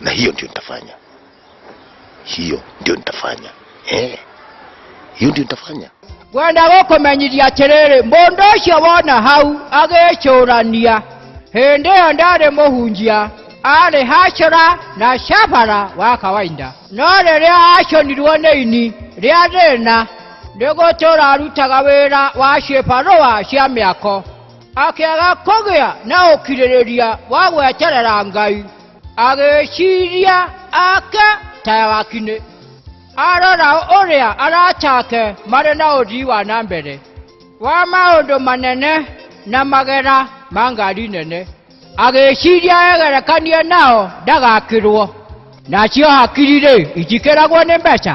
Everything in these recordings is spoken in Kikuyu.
na hiyo ndio nitafanya hiyo ndio nitafanya eh hiyo ndio nitafanya gwenda gũkũmenyithia atĩrĩrĩ mũndũ ũcio wona hau agĩcũrania hĩndĩ ĩyo ndarĩ mũhunjia arĩ hacora na cabara wa kawaida no rĩrĩa aconirwo nĩ ini rĩa thĩna nĩ gũtũra arutaga wĩra wa cibarũa cia mĩako akĩaga kũgĩa na ũkirĩrĩria wa gweterera ngai agĩciria ake tayagakinĩ arora ũrĩa aracake marĩ na ũthii wa na mbere wa maũndũ manene na magera ma ngari nene agĩciria egerekanie nao ndagakĩrwo nacio hakiri-rĩ itikĩragwo nĩ mbeca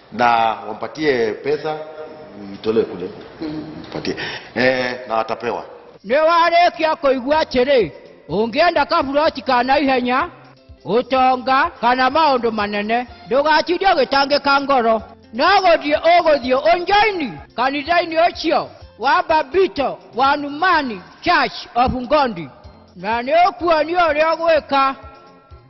na wampatie pesa itolewe kule mpatie eh, na watapewa nĩwarĩkia kũigua atĩrĩ ũngĩenda kaburoci ka na ihenya ũtonga kana maũndũ manene ndũgatinde ũgĩtangĩka ngoro no gũthiĩ ũgũthiĩ ũnjoini kanitha-inĩ ũcio wa babito wa numani church of ngondi na nĩ ũkuonio ũrĩa ũgwĩka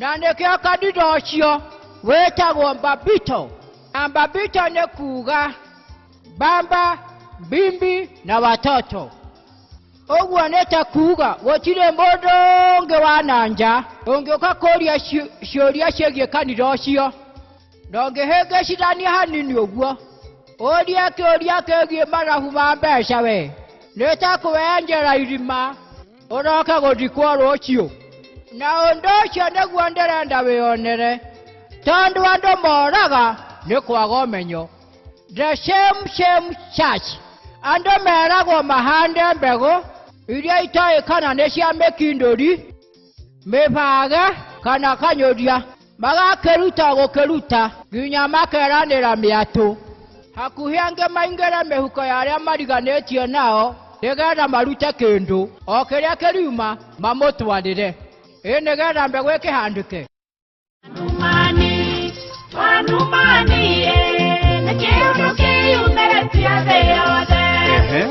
na nĩkĩo kanitha ũcio wĩtagwo mbambito na mbambito nĩ kuuga mbamba mbimbi na watoto ũguo nĩ ta kuuga gũtirĩ mũndũ ũngĩ wa na nja ũngĩũka kũria ciũ- ciũria ciĩgiĩ kanitha ũcio na ũngĩhĩngĩcithania hanini ũguo ũrie kĩũria kĩgiĩ marabu ma mbeca we nĩ ta kwĩyenjera irima ũroke gũthikwo rũciũ na ũndũ ũcio nĩguo ndĩrenda wĩonere tondũ andũ moraga nĩ kwaga ũmenyo the same same church andũ meragwo mahande mbegũ iria itoĩ kana nĩ cia mĩkindũri mĩbage kana kanyũria magakĩruta gũkĩruta nginya makeranĩra mĩatũ hakuhĩ angĩ maingĩre mĩhuko ya arĩa mariganĩtie nao nĩgetha marute kĩndũ o kĩrĩa kĩriuma mamũtwarĩre ĩ nĩgetha mbegũ ĩkĩhandĩke Numani, wa Numani, eh, nĩ kĩndũ kĩyumĩrĩtie thĩ yothe.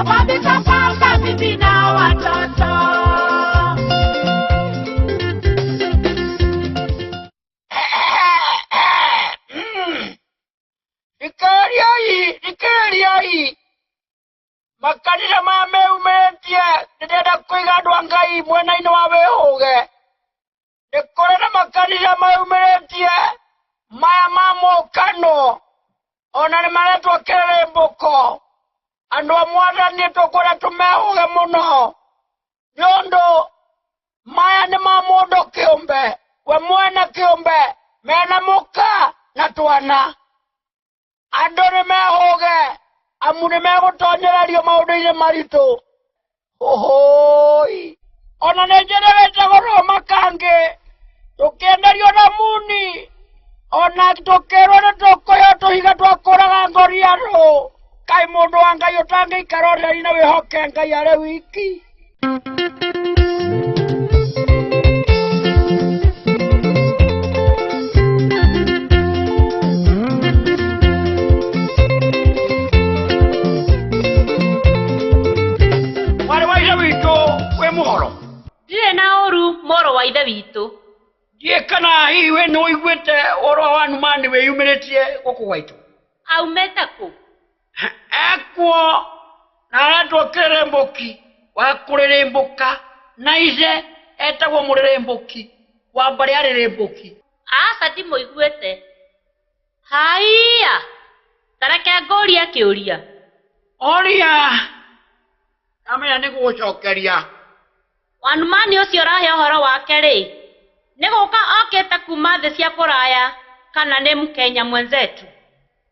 Ukabisa pamba bibi na watoto. Ikariai, ikariai. Makanitha ma meumetie ndirenda kũiga andũ a Ngai mwena-inĩ wa wĩhũge. nĩ kũrĩ na makanitha maumĩrĩtie maya ma mũkano ona nĩ maretwo kĩrĩmbũko andũ a mwathani tũkwĩra tũmehũge mũno nĩ ũndũ maya nĩ ma mũndũ kĩũmbe we mwene kĩũmbe mena mũka na twana Andũ nĩ mehũge, amu nĩ megũtonyererio maũndũ-inĩ maritũ. Ũhũi! Ona nĩ njĩrĩrĩte goro makangĩ, tũkĩenderio na muni, ona tũkĩrwo nĩ tũkũyo tũhiga twa kũraga ngorianũ. Kaĩ mũndũ wa Ngai ũtangĩikara ũtheri na wĩhoke Ngai arĩ wiki? mwarĩ wa ithe witũ wĩ mũhoro ndirĩ na ũru mũrũ wa ithe witũ ndiĩ kana hihi wĩ nĩ ũiguĩte ũhoro wa numa nĩ wĩyumĩrĩtie gũkũ gwaitũ aumĩte kũ Ekwo naratua ũkĩrĩmbũki wa kũrĩrĩmbũka, na ithe etagwo mũrĩrĩmbũki wa mbarĩ ya rĩrĩmbũki. Aca ndimũiguĩte. Haiya! Ta reke ngũũrie kĩũria. Ũria! Ndamenya nĩgũgũcokeria. One man ũcio ũrahe ũhoro wake-rĩ, nĩ gũka okĩte kuuma thĩ cia kũraya kana nĩ Mkenya mwenzetu?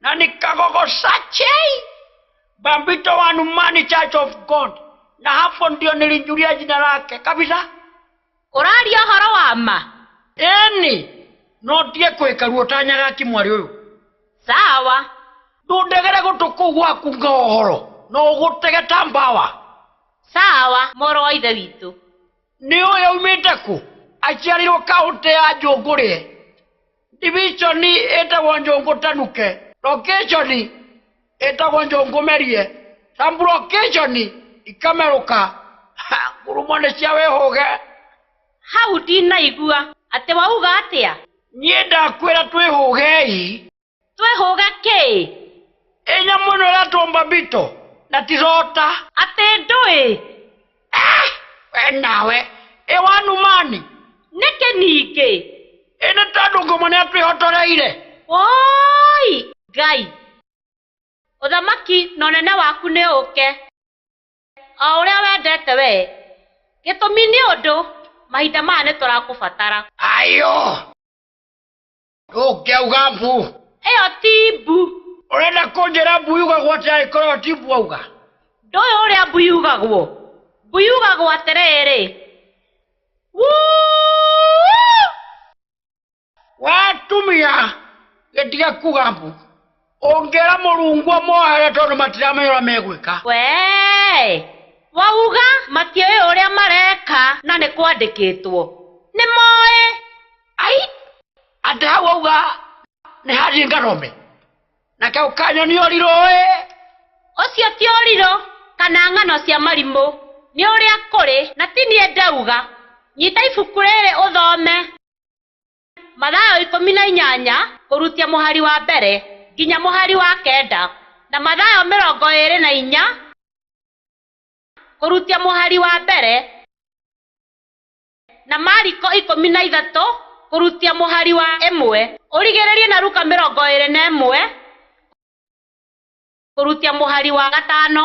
na nikagogo sachei bambito wa numani church of god na hapo ndio nilijulia jina lake kabisa ũraria ũhoro wa ma eni no ndie kwĩka ruo tanyaga kimwarĩ ũyũ sawa ndũndegere gũtũ kũu gwaku nga ũhoro no ũgũtege ta mbawa sawa mũrũ wa ithe witũ nĩ ũyũ aumĩte kũ aciarirwo kaũntĩ ya njũngũrĩe Ndiviconi ĩtagwo njũngũ tanuke. Lokĩconi ĩtagwo njũngũ merie. Sambulokĩconi ikamerũka. Ha, ngurumo nĩ cia wĩhũge. Hau ndinaigua. Atĩ wauga atĩa? Niĩ ndakwĩra twĩhũgei. Twĩhũge kĩĩ? Ĩ nyamũ ĩno ĩretwo mbambito, na ti rota. Atĩ ndũĩ? Ah! We nawe, ĩ wanumani. Nĩkĩ ningĩ? Ĩ nĩ tondũ ngũmũ nĩ atwĩhotoreire. Woi! Ngai! Ũthamaki na ũnene waku nĩ ũke, o ũrĩa wendete wee, gĩtũmi nĩ ũndũ mahinda maya nĩ tũrakũbatara. Ayũ! Ũkĩa uga mbu. Ĩyo ti mbu. Ũrenda kũnjĩra mbu yugagwo atĩa angĩkorwo ti mbu auga? Ndũĩ ũrĩa mbu yugagwo? Mbu yugagwo atĩrĩrĩ. Wee atumia, gĩtige kuga mbu. ũngĩra mũrungu mohere tondũ matiramenya ũrĩa megwĩka wee wauga matiũĩ ũrĩa mareka na nĩ kwandĩkĩtwo nĩ moĩ ai atĩ hau auga nĩ handi ngarome na kau kanyo nĩ ũrirũ ĩ ũcio ti ũrirũ kana ng'ano cia marimũ nĩ ũrĩa kũrĩ na ti niĩ ndauga nyita ibuku rĩrĩ ũthome Mathayo ikũmi na inyanya kũrutia mũhari wa mbere nginya mũhari wa kenda, na Mathayo mĩrongo ĩĩrĩ na inya kũrutia mũhari wa mbere, na Mariko ikũmi na ithatũ kũrutia mũhari wa ĩmwe, ũrigĩrĩrie na Luka mĩrongo ĩĩrĩ na ĩmwe kũrutia mũhari wa gatano.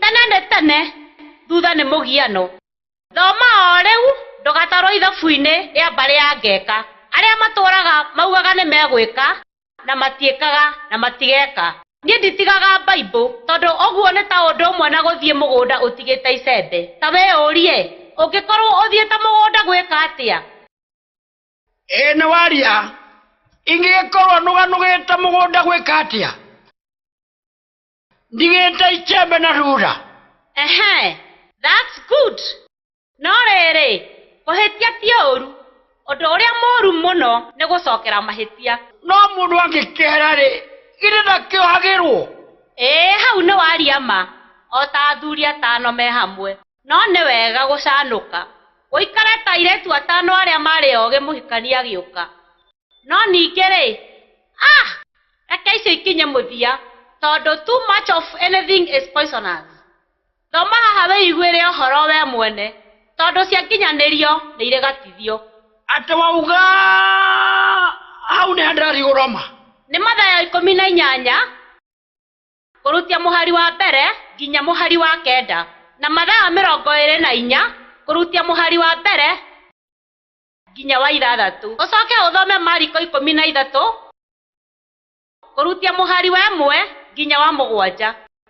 tene nĩ tene thutha nĩ mũgiano thoma o rĩu ndũgatarwo ithabu-inĩ rĩa mbarĩ ya ngeka arĩa matũraga maugaga nĩ megwĩka na matiĩkaga na matigeka niĩ nditigaga baibũ tondũ ũguo nĩ ta ũndũ ũmwe na gũthiĩ mũgũnda ũtigĩte icembe ta wĩyũrie ũngĩkorwo ũthiĩte mũgũnda gwĩka atĩa? Ĩ nĩ waria, ingĩgĩkorwo nũganũgĩte mũgũnda gwĩka atĩa? Ndigĩte ichembe na rura? Ehe, that's good. No rĩrĩ, kũhĩtia ti ũũru. Ũndũ ũrĩa mũũru mũno nĩ gũcokera mahĩtia. No mũndũ angĩkĩhera-rĩ, githĩ ndakĩohagĩrũo? Ĩ hau nĩ waria ma, o ta athuri atano me hamwe. No nĩ wega gũcanũka. Ũikare ta airĩtu atano arĩa maarĩ ogĩ mũhikania agĩũka. No ningĩ-rĩ, ah! Reke icio ikinye mũthia, tondũ too much of anything is poisonous. Thoma haha wĩiguĩre ũhoro wee mwene, tondũ cia nginyanĩrio nĩ irĩ gatithio. Atĩ wauga, Hau nĩha ndĩrathiĩ gũroma. Nĩ Mathayo ikũmi na inyanya. kũrutia mũhari wa mbere nginya mũhari wa kenda na mathaa mĩrongo ĩrĩ na inya kũrutia mũhari wa mbere nginya wa ithathatũ. Ũcoke ũthome Mariko ikũmi na ithatũ kũrutia mũhari wa ĩmwe nginya wa mũgwanja.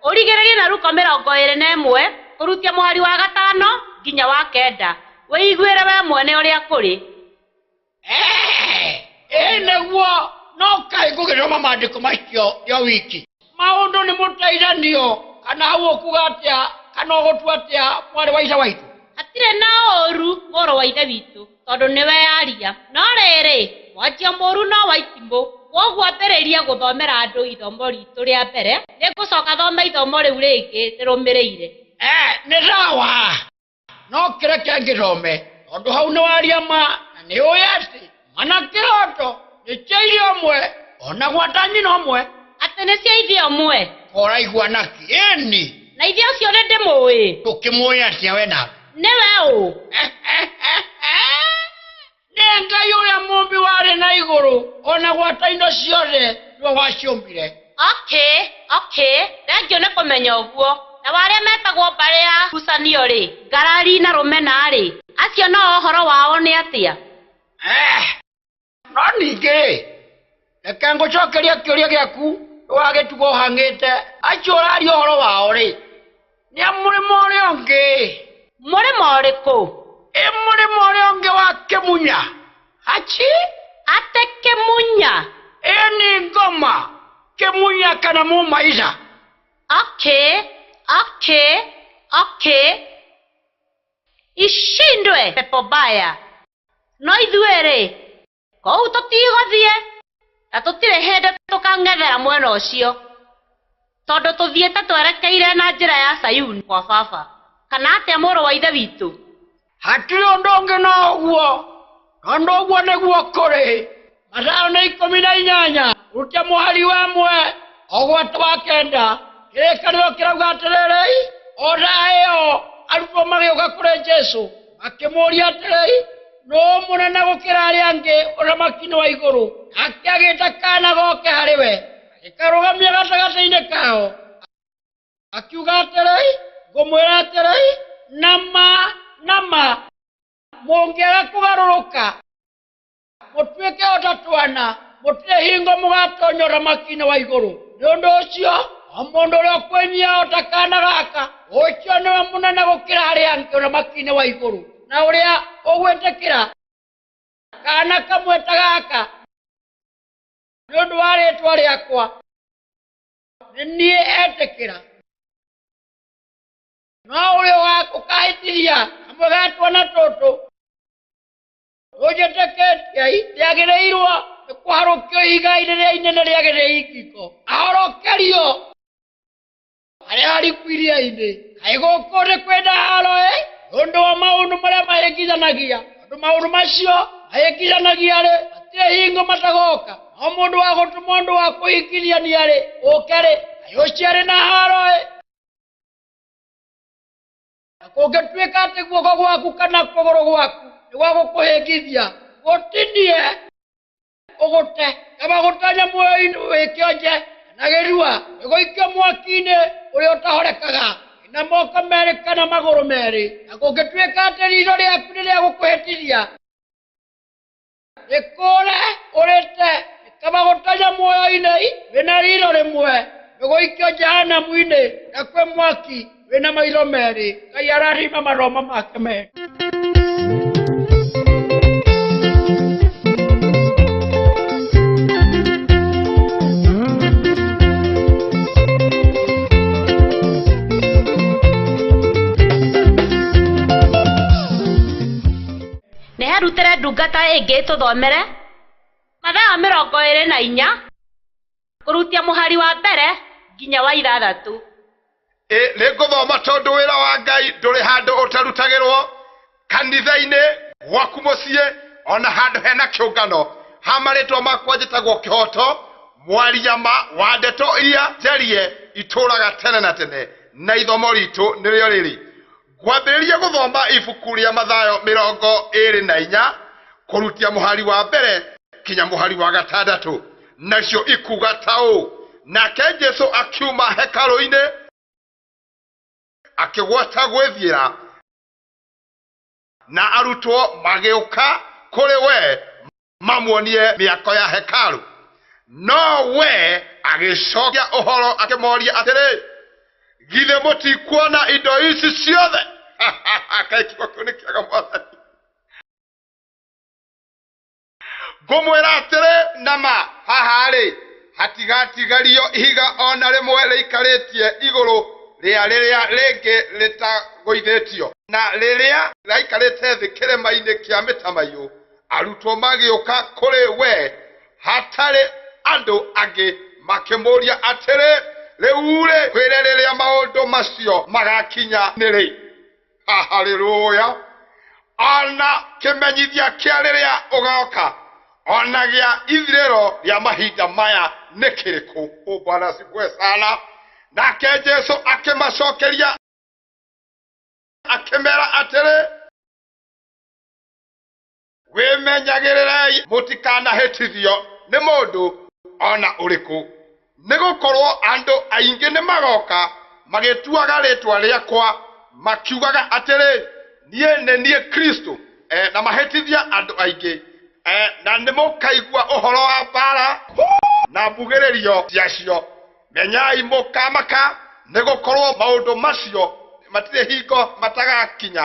Ũrigĩrĩrie na Luko mĩrongo ĩrĩ na ĩmwe kũrutia mũhari wa gatano nginya wa kenda, wĩiguĩre wee mwene ũrĩa kũrĩ. Eh, ĩ nĩguo no kaĩ ngũgĩthoma maandĩko macio yo wiki maũndũ nĩ mũteithanio kana hau ũkuga atĩa kana ũgũtua atĩa mwarĩ wa ica waitũ hatirĩ na ũũru mũrũ wa ithe witũ tondũ nĩwe aria no rĩrĩ mwanjia mũũru no wa itimũ kwoguo ambĩrĩria gũthomera andũ ithomo ritũ rĩa mbere nĩ ngũcoka thome ithomo rĩu rĩngĩ rĩrũmĩrĩire eh, nĩ sawa no kĩrĩa kĩangĩthome tondũ hau nĩ waria ma na nĩ ũĩ atĩ mana kĩroto nĩ cia iria ũmwe ona gwata nyina ũmwe atĩ nĩ cia ithe ũmwe koraigua naki ĩni na ithe ũcio nĩ ndĩmũĩ ndũkĩmũĩ atĩa we na nĩwe ũ nĩ ngai ũrĩa mũmbi warĩ na igũrũ o na gwata indo ciothe nĩwe waciũmbire okĩ okĩ thengio nĩ kũmenya ũguo na warĩa metagwo mbarĩ ya ngucanio-rĩ ngarari na rũmena-rĩ acio nao ũhoro wao nĩ atĩa? eeh no ningĩ-rĩ, reke ngũcokerie kĩũria gĩaku wa gĩtugo ũhang'ĩte acio ũraria ũhoro wao rĩ nĩ a mũrĩmo ũrĩa ũngĩ mũrĩmo ũrĩkũ ĩ mũrĩmo ũrĩa ũngĩ wa kĩmunya aci ate kĩmunya ĩ nĩ ngoma kĩmunya kana mũmaica oke oke oke ishindwe pepo baya no ithuĩ rĩ Kũu tũtigũthiĩ, na tũtirĩ hĩndĩ tũkang'ethera mwena ũcio, tondũ tũthiĩte twerekeire na njĩra ya Sayuni gwa Baba. Kana atĩa, mũrũ wa Ithe witũ? Hatirĩ ũndũ ũngĩ no ũguo, tondũ ũguo nĩguo kũrĩ. Mathayo nĩ ikũmi na inyanya rute mũhari wa ĩmwe o gwata wa kenda. Kĩrĩkanĩro kĩrauga atĩrĩrĩ, O thaa ĩyo arutwo magĩũka kũrĩ Jesu. akĩmũũria atĩrĩi nũ mũnene gũkĩra arĩa angĩ ũthamaki-inĩ wa igũrũ nake agĩta kana goke harĩ we agĩkarũgamia gatagatĩ-inĩ kao akiuga atĩrĩi ngũmwĩra atĩrĩi nama nama mũngĩaga kũgarũrũka mũtuĩke o ta twana mũtirĩ hingo mũgatonya ũthamaki-inĩ wa igũrũ nĩ ũndũ ũcio o mũndũ ũrĩa ũkwĩnyia o ta kana gaka ũcio nĩwe mũnene gũkĩra arĩa angĩ ũthamaki-inĩ wa igũrũ na ũrĩa ũgwĩtĩkĩra kana kamwe ta gaka nĩ ũndũ wa rĩtwa rĩakwa nĩ niĩ etĩkĩra no ũrĩa ũkahĩtithia kamwe ga twana tũtũ Ojete ketia ite agereirwo nĩ kũharũkio igai rĩrĩa inene rĩa gĩthĩi ngiko ahonokerio arĩa ariku iria-inĩ kaĩ gũkũ nĩ kwenda haro ĩ ũndũ wa maũndũ marĩa mahĩngithanagia andũ maũndũ macio mahĩngithanagia rĩ matirĩ hingo matagoka no mũndũ wa gũtũma ũndũ wa kũhingithia nĩ arĩ ũke rĩ kaĩ ũcio arĩ na haro ĩ Na kũngĩtuĩka atĩ guoko gwaku kana kũgũrũ gwaku nĩ gwa gũkũhĩngithia, gũtinie, ũgũte. Kaba gũtonya muoyo-inĩ wĩ kĩonje kana gĩthua, nĩ gũikio mwaki-inĩ ũrĩa ũtahorekaga, wĩ na moko merĩ kana magũrũ merĩ. Na kũngĩtuĩka atĩ riitho rĩaku nĩ rĩa gũkũhĩtithia, nĩkũũre ũrĩte nĩkamagũta ja muoyo-inĩ wĩna riro rĩmwe nĩgũikio jahanamu-inĩ na kwĩ mwaki wĩna maitho merĩ ngai ararima maroma make merĩ Nĩ arutĩre ndungata ĩngĩ ĩtũthomere. Mathayo mĩrongo ĩrĩ na inya kũrutia mũhari wa mbere nginya wa ithathatũ. Ĩ nĩ ngũthoma tondũ wĩra wa Ngai ndũrĩ handũ ũtarutagĩrwo, kanitha-inĩ, gwaku mũciĩ, o na handũ hena kĩũngano. Ha marĩtwa makwa njĩtagwo Kĩhoto, mwaria ma wa ndeto iria njarie itũũraga tene na tene, na ithomo ritũ nĩrĩo rĩrĩ, Ngwambĩrĩria gũthoma ibuku rĩa Mathayo mĩrongo ĩĩrĩ na inya kũrutia mũhari wa mbere kinya mũhari wa gatandatũ, nacio ikuuga ta ũũ, Nake Jesu akiuma hekarũ-inĩ, akĩgwata gwĩthiĩra, na arutwo magĩũka kũrĩ we, mamuonie mĩako ya hekaru no we agĩcokia ũhoro akĩmoria atĩrĩ githĩ mũtikuona indo ici ciothe kaĩ kiugo kĩu nĩ kĩega mwathani ngũmwĩra atĩrĩ na ma haha-rĩ hatigatigario ihiga o na rĩmwe rĩikarĩtie igũrũ rĩa rĩrĩa rĩngĩ rĩtagũithĩtio na rĩrĩa raikarĩte thĩ kĩrĩma-inĩ kĩa mĩtamaiyũ arutwo magĩũka kũrĩ we hatarĩ andũ angĩ makĩmũria atĩrĩ rĩu-rĩ kwĩre rĩrĩa maũndũ macio magakinya nĩ rĩ haleluya ona kĩmenyithia kĩa rĩrĩa ũgoka ona gĩa ithirĩro rĩa mahinda maya nĩ kĩrĩkũ bwana sikue sana nake jesu akĩmacokeria akĩmera atĩrĩ wĩmenyagĩrĩrei mũtikanahĩtithio nĩ mũndũ ona ũrĩkũ nĩ gũkorwo andũ aingĩ nĩ magoka magĩtuaga rĩtwa rĩakwa makiugaga atĩrĩ niĩ nĩ niĩ kristo e, na mahĩtithia andũ aingĩ e, na nĩ mũkaigua ũhoro wa mbara na mbugĩrĩrio ciacio menyai mũkamaka nĩ gũkorwo maũndũ macio matirĩ hingo matagakinya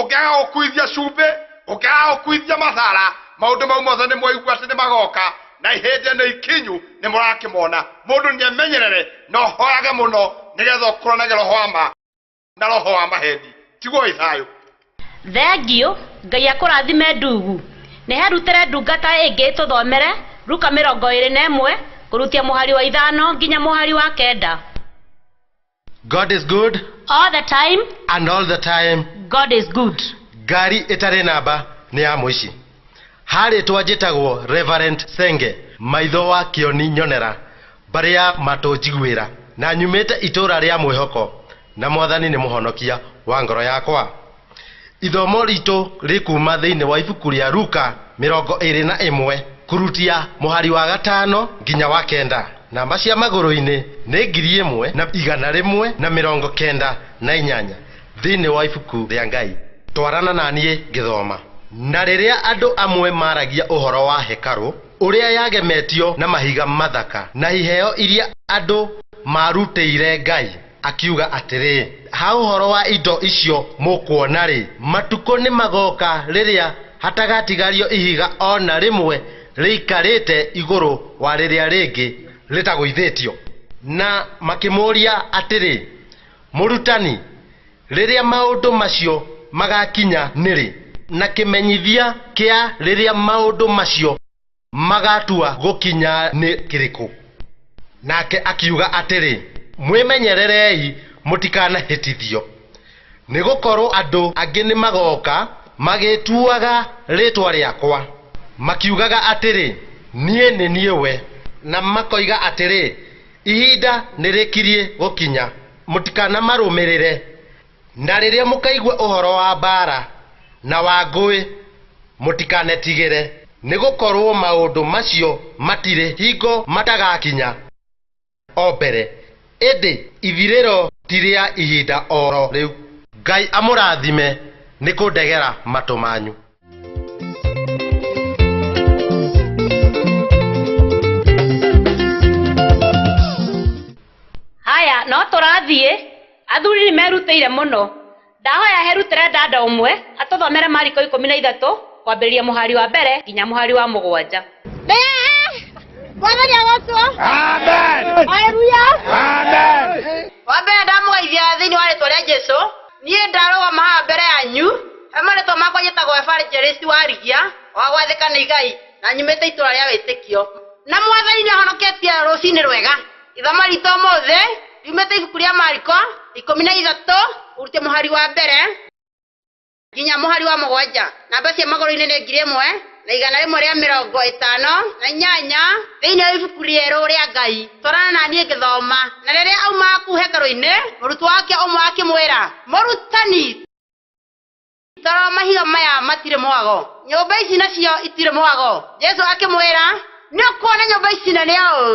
ũngĩaga gũkuithia cumbĩ ũngĩaga gũkuithia mathara maũndũ mau mothe nĩ mwaigua atĩ nĩ magoka na ihĩndĩ nĩ ikinyu nĩ mũrakĩmona mũndũ nĩ amenyerere na ũhoyage mũno nĩgetha ũkũranage roho wa ma na roho wa maheni tigoi thayũ Thengiũ, Ngai akũrathime ndugu. Nĩ herutĩre ndungata ĩngĩ ĩtũthomere Luka mĩrongo ĩĩrĩ na ĩmwe kũrutia mũhari wa ithano nginya mũhari wa kenda. God is good All the time, and all the time God is good. ngari ĩtarĩ namba nĩ ya mũici ha rĩtwa njĩtagwo reverend senge maitho wa kĩoni nyonera mbarĩ ya matũ njiguĩra na nyumĩte itũũra rĩa mwĩhoko na mwathani nĩ mũhonokia wa ngoro yakwa Ithomo riitũ rĩkuuma thĩinĩ wa ibuku rĩa Luka mĩrongo ĩĩrĩ na ĩmwe kũrutia mũhari wa gatano nginya wa kenda. Namba cia magũrũinĩ nĩ ngiri ĩmwe na igana rĩmwe na mĩrongo kenda na inyanya thĩinĩ wa ibuku rĩa Ngai. Twarana na niĩ ngĩthoma. Na rĩrĩa andũ amwe maaragia ũhoro wa hekarũ, ũrĩa yagemetio na mahiga mathaka, na iheo iria andũ maarutĩire Ngai, Akiuga atĩrĩ, Ha ũhoro wa indo icio mũkuona-rĩ, matukũ nĩmagooka rĩrĩa hatagatigario ihiga o na rĩmwe rĩikarĩte igũrũ wa rĩrĩa rĩngĩ rĩtagũithĩtio. Na makĩmũũria atĩrĩ, Mũrutani, rĩrĩa maũndũ macio magaakinya nĩ rĩ? Na kĩmenyithia kĩa rĩrĩa maũndũ macio. Magaatua gũkinya nĩ kĩrĩkũ? Nake akiuga atĩrĩ, Mwĩmenyererei mũtikanahĩtithio, nĩ gũkorũo andũ angĩ nĩ magooka magĩtuaga rĩĩtwa rĩakwa, makiugaga atĩrĩ, 'Niĩ nĩ niĩ we, na makoiga atĩrĩ, 'Ihinda nĩ rĩkiriĩ gũkinya. Mũtikanamarũmĩrĩre. Na rĩrĩa mũkaigua ũhoro wa mbaara na wa ngũĩ, mũtikanetigĩre, nĩgũkorwo maũndũ macio matirĩ hingo matagakinya o mbere, ĩndĩ ithirĩro ti rĩa ihinda o ro rĩu. Ngai amũrathime nĩ kũndegera matũ manyu. Haya, no tũrathiĩ? Athuri nĩ merutĩire mũno. Ndahoya he Ruterendanda ũmwe atũthomere Mariko ikũmi na ithatũ kwambĩrĩria mũhari wa mbere nginya mũhari wa mũgwanja. Bwana ni Yesu. Amen. Haleluya. Amen. Wa mbere ndamũgeithia thĩinĩ wa rĩtwa rĩa Jesu. Niĩ ndarũgama haha mbere yanyu. He marĩtwa makwa njĩtagwo Evangelist Warigia wa gwathĩka nĩ Igai na nyumĩte itũũra rĩa wĩtĩkio. Na Mwathani nĩ ahonoketie rũcinĩ rwega. Ithomo ritũ ũmũthĩ riumĩte ibuku rĩa Mariko ikũmi na ithatũ ũrute mũhari wa mbere nginya mũhari wa mũgwanja. Namba cia magũrũ-inĩ nĩ ngiri ĩmwe na igana rĩmwe rĩa mĩrongo ĩtano na inyanya thĩinĩ wa ibuku rĩerũ rĩa Ngai. Twarana na niĩ ngĩthoma. Na rĩrĩa aumaga kũu hekarũ-inĩ, mũrutwo wake ũmwe akĩmwĩra, Mũrutani! Toro mahiga maya matirĩ mwago nyũmba ici nacio itirĩ mwago jesu akĩmwĩra nĩ ũkuona nyũmba ici na nĩ ũũ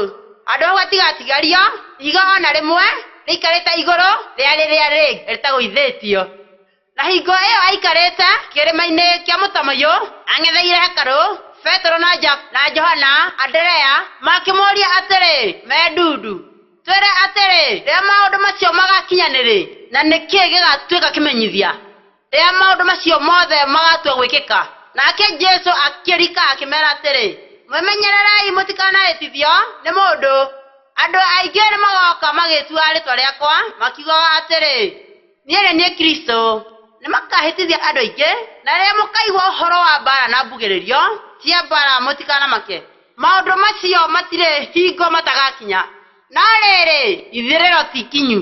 handũ hau hatigatigario ihiga ona rĩmwe rĩikarĩte igũrũ rĩa rĩrĩa rĩ rĩtagũithĩtio na hingo ĩyo aikarĩte kĩrĩma-inĩ kĩa mũtamaiyũ ang'etheire hekarũ petero na, ja, na johana anderea makĩmũria atĩrĩ me ndundu Twĩre atĩrĩ, rĩrĩa maũndũ macio magaakinya nĩrĩ, na nĩ kĩĩ gĩgaatuĩka kĩmenyithia rĩrĩa maũndũ macio mothe magaatua gwĩkĩka? Nake Jesu akĩrika akĩmeera atĩrĩ, Mwĩmenyererei mũtikanahĩtithio nĩ mũndũ. Andũ aingĩ nĩmagooka magĩĩtuaga rĩĩtwa rĩakwa, makiugaga atĩrĩ. Niĩ-rĩ, niĩ Kristũ, nĩmakahĩtithia andũ aingĩ. Na rĩrĩa mũkaigua ũhoro wa mbaara na mbugĩrĩrio cia mbaara mũtikanamake, maũndũ macio matirĩ hingo matagakinya, no rĩrĩ, ithirĩro ti ikinyu.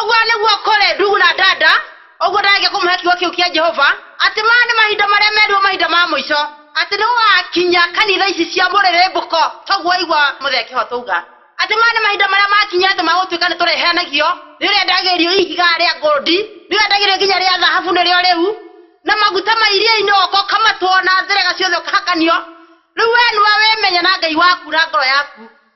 ũguo nĩguo kũrĩ ndugu na dada ũguo ndagĩke kũmũhe kiugo kĩu kĩa jehova atĩ maya nĩ mahinda marĩa merirwo mahinda ma mũico atĩ nĩ gũgakinya kanitha ici cia mũrĩrĩmbũko toguo waigua mũthee kĩhota uga atĩ maya nĩ mahinda marĩa makinya atĩ magũtuĩka nĩ tũrĩheanagio nĩ ũrĩa ndagĩrio ihiga rĩa ngũndi nĩ ũrĩa ndagĩrio nginya rĩa thahabu nĩrĩo rĩu na maguta ma iria-inĩ oka ũkamatwo na njĩrega ciothe ũkahakanio rĩu wee nĩwe wĩmenye na ngai waku na ngoro yaku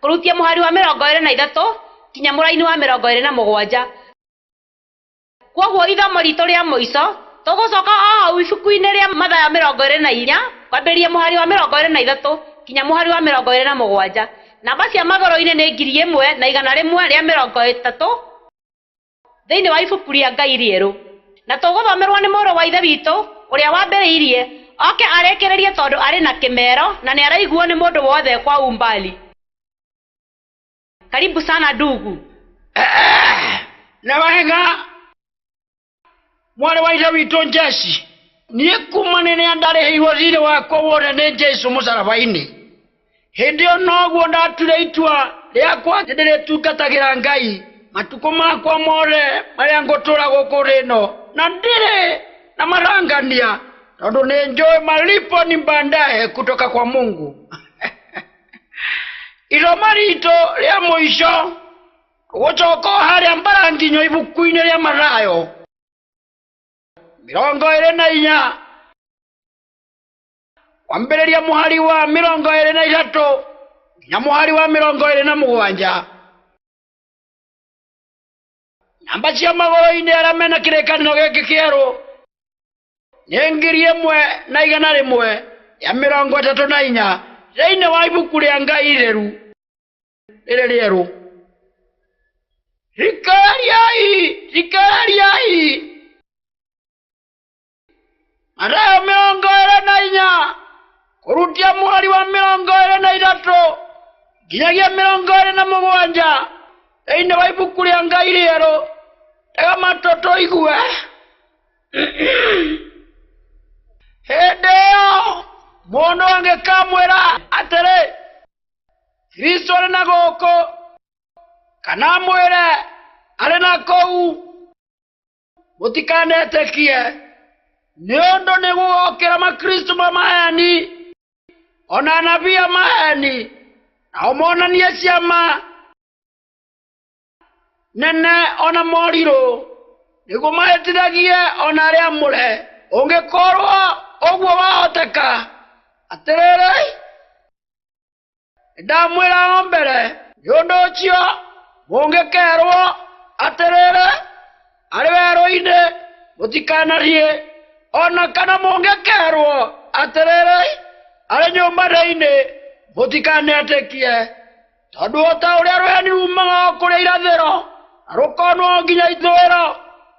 Kũrutia mũhari wa mĩrongo ĩĩrĩ na ithatũ kinya mũraini wa mĩrongo ĩĩrĩ na mũgwanja. Kwoguo ithomo riitũ rĩa mũico, tũgũcoka o hau ibuku-inĩ rĩa Mathayo mĩrongo ĩĩrĩ na inya, kwambĩrĩria mũhari wa mĩrongo ĩĩrĩ na ithatũ kinya mũhari wa mĩrongo ĩĩrĩ na mũgwanja. Namba cia magũrũ-inĩ nĩ ngiri ĩmwe na igana rĩmwe rĩa mĩrongo ĩtatũ. thĩinĩ wa ibuku rĩa Ngai rĩerũ, na tũgũthomerwo nĩ Mũrũ wa Ithe witũ ũrĩa wambĩrĩirie, oke arĩkĩrĩrie tondũ arĩ na kĩmero na nĩaraiguo nĩ mũndũ wothe kwa umbali. Karibu sana ndugu. Nĩ wega mwarĩ wa Ithe witũ Jesse, niĩ kuma rĩrĩa ndarĩhĩirwo thirĩ wakwa wothe nĩ Jesu mũcaraba-inĩ, Hĩndĩ ĩyo noguo ndatuire itua rĩakwa atĩ ndĩrĩtungatagĩra Ngai matukũ makwa mothe marĩa ngũtũũra gũkũ thĩ ĩno, na ndirĩ na marangania tondũ nĩ njũĩ malipo ni baadaye kutoka kwa Mungu. Isomo ritũ rĩa mũico tũgũcoka o harĩa mbaranginyo ibuku-inĩ rĩa Mathayo mĩrongo ĩrĩ na inya kwambĩrĩria mũhari wa mĩrongo ĩrĩ na ithatũ nginya mũhari wa mĩrongo ĩrĩ na mũgwanja namba cia magũrũ-inĩ arĩa mena kĩrĩkanĩro gĩkĩ kĩerũ nĩ ngiri ĩmwe na igana rĩmwe rĩa mĩrongo ĩtatũ na inya thĩinĩ wa ibuku rĩa ngai itheru rĩrĩ rĩerũ thikĩrĩriai thikĩrĩriai Mathayo mĩrongo ĩrĩ na inya kũrutia mweri wa mĩrongo ĩrĩ na ithatũ nginyagia mĩrongo ĩrĩ na mũgwanja thĩinĩ wa ibuku rĩa Ngai rĩerũ. Tega matũ tũigue. Hĩndĩ ĩyo mũndũ angĩkamwĩra atĩrĩ, Kristo arĩ na gũkũ, kana amwĩre arĩ na kũu, mũtikanetĩkie nĩ ũndũ nĩ gũgokĩra makristo ma maheni o na anabii a maheni nao monanie ciama nene o na morirũ nĩguo mahĩtithagie o na arĩa amũre ũngĩkorwo ũguo wahoteka atĩrĩrĩ ndamwĩra o mbere nĩ ũndũ ũcio mũngĩkerwo atĩrĩrĩ arĩ werũ-inĩ mũtikanariĩ o na kana mũngĩkerwo atĩrĩrĩ arĩ nyũmba-inĩ mũtikanetĩkie tondũ o ta ũrĩa rũheni rumaga o kũrĩa irathĩro na rũkonwo nginya ithũĩro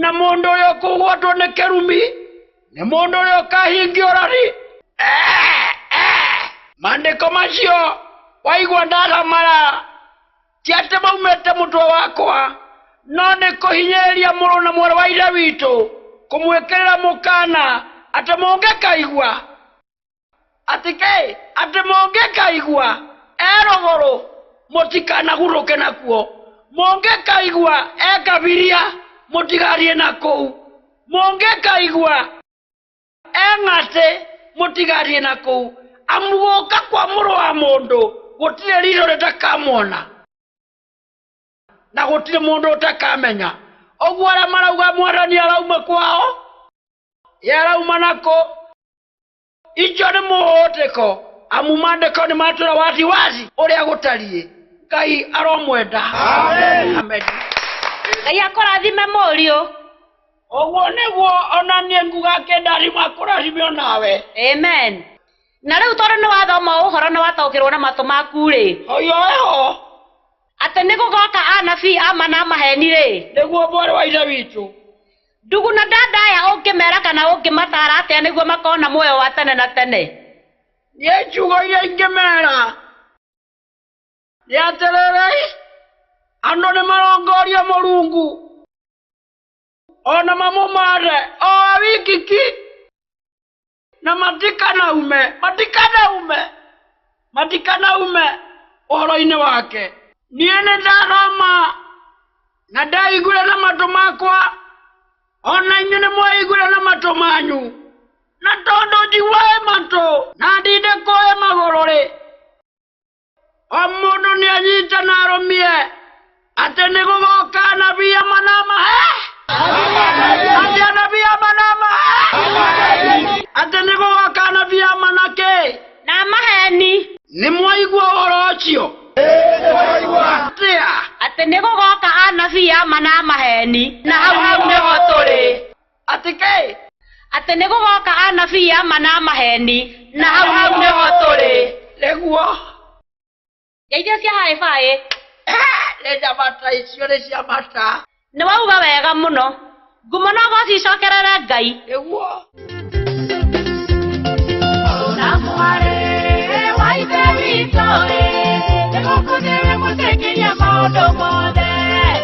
na mũndũ ũrĩa ũkũgwatwo nĩ kĩrumi nĩ mũndũ ũrĩa ũkahingia ũrari Eh, eh. maandĩko macio waigua ndaramara ti atĩ maumĩte mũtwe wakwa no nĩ kũhinyĩrĩria mũrũ na mwarĩ wa ithe witũ kũmwĩkĩrĩra mũkana atĩ mũngĩkaigua Atĩkĩĩ, atĩ mũngĩkaigua erũgũrũ mũtikanagurũke nakuo, mũngĩkaigua ekabiria mũtigathiĩ na kũu, mũngĩkaigua eng'atĩ mũtigathiĩ na kũu, amu gũka kwa mũrũ wa mũndũ gũtirĩ riitho rĩtakamwona na gũtirĩ mũndũ ũtakamenya. Ũguo arĩa marauga mwathani arauma kwao. yarauma nako icio nĩ mũhũtĩko amu mandĩko nĩ matwĩra wazi wazi ũrĩa gũtariĩ ngai aromwenda Amen. Amen. ngai akũrathime mũriũ ũguo nĩguo ona niĩ nguga kĩndarima kũrathime onawe amen na rĩu tondũ nĩ wathoma ũhoro na wataũkĩrwo na matũ maku-rĩ hoyo eho atĩ nĩ gũgoka anabii ama na maheni-rĩ nĩguo mwarĩ wa ithe witũ Ndugu na dada aya ũngĩmera kana ũngĩmataara atĩa nĩguo makona muoyo wa tene na tene? Nĩ ciugo iria ingĩmera nĩ atĩrĩrĩ, andũ nĩ marongoria Mũrungu o na mamũmaande o we wiki ki. na matikanaume matikanaume matikanaume ũhoro-inĩ wake niĩ nĩ ndathoma na ndaiguĩra na matũ makwa o na inyuĩ nĩ mwaiguĩra na matũ manyu na tondũ njiguaĩ matũ na ndinde kũĩ magũrũ-rĩ o mũndũ nĩ anyita na arũmie atĩ nĩ gũgoka anabii amwe na amwe atĩ anabii amwe na amwe atĩ nĩ gũgoka anabii amwe na kĩ na maheni nĩ mwaigua ũhoro ũcio atĩa atĩ nĩ gũgoka anabii ama na maheni na hau nĩho tũrĩ Atĩ kĩĩ? Atĩ nĩ gũgoka anabii a ma na maheni, na hau hau nĩho tũrĩ. Nĩguo. Ngeithio cia hi fi. Nĩ njamata icio, nĩ ciamata. Nĩ wauga wega mũno. Ngumo na ũgooci icokerere Ngai. Nĩguo. Mũrũ na mwarĩ wa Ithe witũ-ĩ, nĩ gũkũ nĩwe mũteng'eria maũndũ mothe.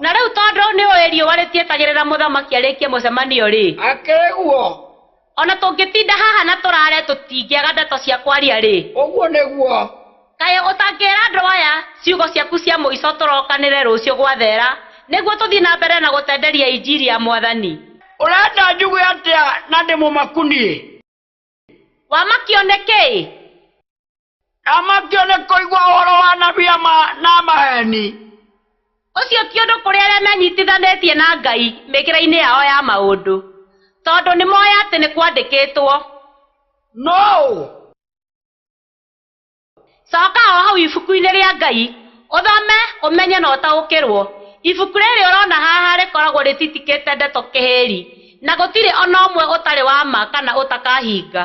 na rĩu tondũ nĩ ũĩ riũa rĩtietagĩrĩra mũthamaki arĩkie mũcemanio rĩ akĩrĩ guo ona tũngĩtinda haha na tũrare tũtingĩaga ndeto cia kwaria rĩ ũguo nĩguo kaĩ ũtangĩra andũ aya ciugo ciaku cia mũico tũrokanĩre rũciũ gwathera nĩguo tũthiĩ na mbere na gũtenderia injiri ya mwathani ũrenda njuge atĩa na ndĩ mũmaku niĩ Wamakio nĩ kĩĩ? Ndamakio nĩ kũigua ũhoro wa anabii a ma na maheeni. Ũcio ti ũndũ kũrĩ arĩa menyitithanĩtie na Ngai mĩkĩre-inĩ yao ya maũndũ, tondũ nĩmoĩ atĩ nĩkwandĩkĩtwo. Nũũ. Coka o hau ibuku-inĩ rĩa Ngai, ũthome, ũmenye na ũtaũkĩrũo. Ibuku rĩrĩ ũrona haha rĩkoragwo rĩtitikĩte ndeto kĩhĩri, na gũtirĩ o na ũmwe ũtarĩ wa ma kana ũtakahinga.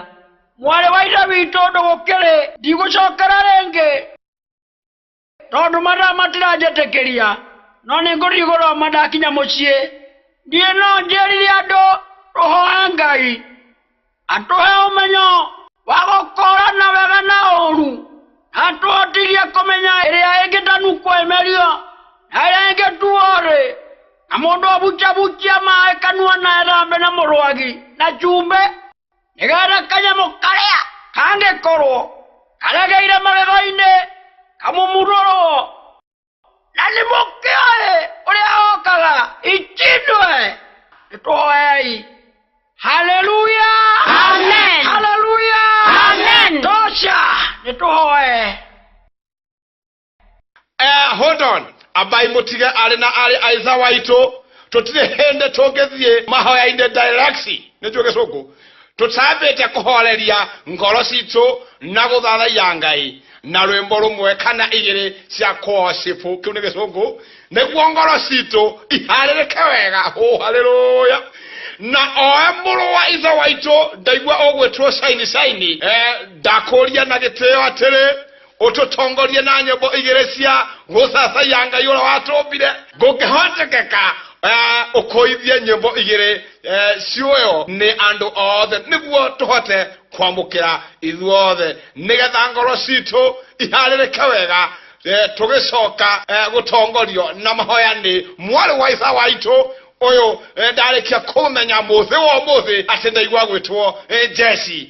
Mwarĩ wa Ithe witũ ũndũ gũkĩrĩ. Ndigũcokera rĩngĩ tondũ mathaa matiranjĩtĩkĩria, no nĩ ngũthiĩ gũthoma ndakinya mũciĩ. Niĩ no njĩrire andũ tũhoe Ngai. atũhe ũmenyo wa gũkũũrana wega na ũũru na atũhotithie kũmenya ĩrĩa ĩngĩtanu kwĩmerio na ĩrĩa ĩngĩtuo rĩ na mũndũ ũbucabucia maĩ kanua na ethambe na mũrwagi na cumbĩ nĩgetha kanyamũ karĩa kangĩkorwo karegeire magego-inĩ kamũmurũrwo na nĩ mũkĩoĩ ũrĩa okaga itinwe nĩtwoei haleluya Amen. haleluya Amen. tosha nĩtũhoe Eh, hold on ambai mutige ari na ari aiza waitu tutire hende tungithie mahoya-inĩ direct nä njå gä cå ngå tũtambĩte kũhoreria ngoro citũ na gũthathaiya ngai na rwĩmbo rũmwe kana igĩrĩ cia kũocipũ kĩu nĩ gĩcũngũ nĩguo ngoro citũ iharĩrĩke wega hũ harĩrũya na oe mũrũ wa ithe waitũ ndaigua ũgwĩtwo caini caini eh, ndakũria na gĩtĩo atĩrĩ ũtũtongorie na nyĩmbo igĩrĩ cia gũcacaiya ngai ũrĩa watũmbire ngũngĩhotekeka eh, ũkũithie nyĩmbo igĩrĩ eh, ciũyo nĩ andũ othe nĩguo tũhote kwamũkĩra ithuothe nĩgetha ngoro citũ iharĩrĩke wega eh, tũgĩcoka eh, gũtongorio na mahoya nĩ mwarĩ wa isa waitũ ũyũ eh, ndarĩkia kũmenya mũthĩ wa ũmũthĩ atĩ ndaigua gwĩtwo eh, jesi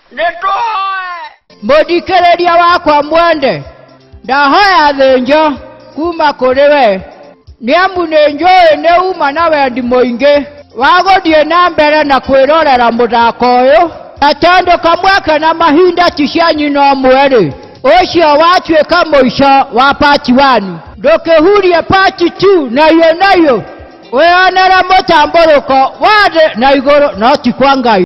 nĩtũhoe mũthikĩrĩria wakwa mwende ndahoya thĩnjo kuma kũrĩ we nĩ amu nĩ njũĩ nĩ uma na wendi mũingĩ wa gũthiĩ na mbere na kwĩrorera mũthako ũyũ na tondũ kamweke na mahinda ti cia nyina ũmwe-rĩ ũcio watuĩka mũico wa pati wani ndũkĩhurie pati tu nayo nayo wĩonere mũtambũrũko wa thĩ na igũrũ no ti kwa ngai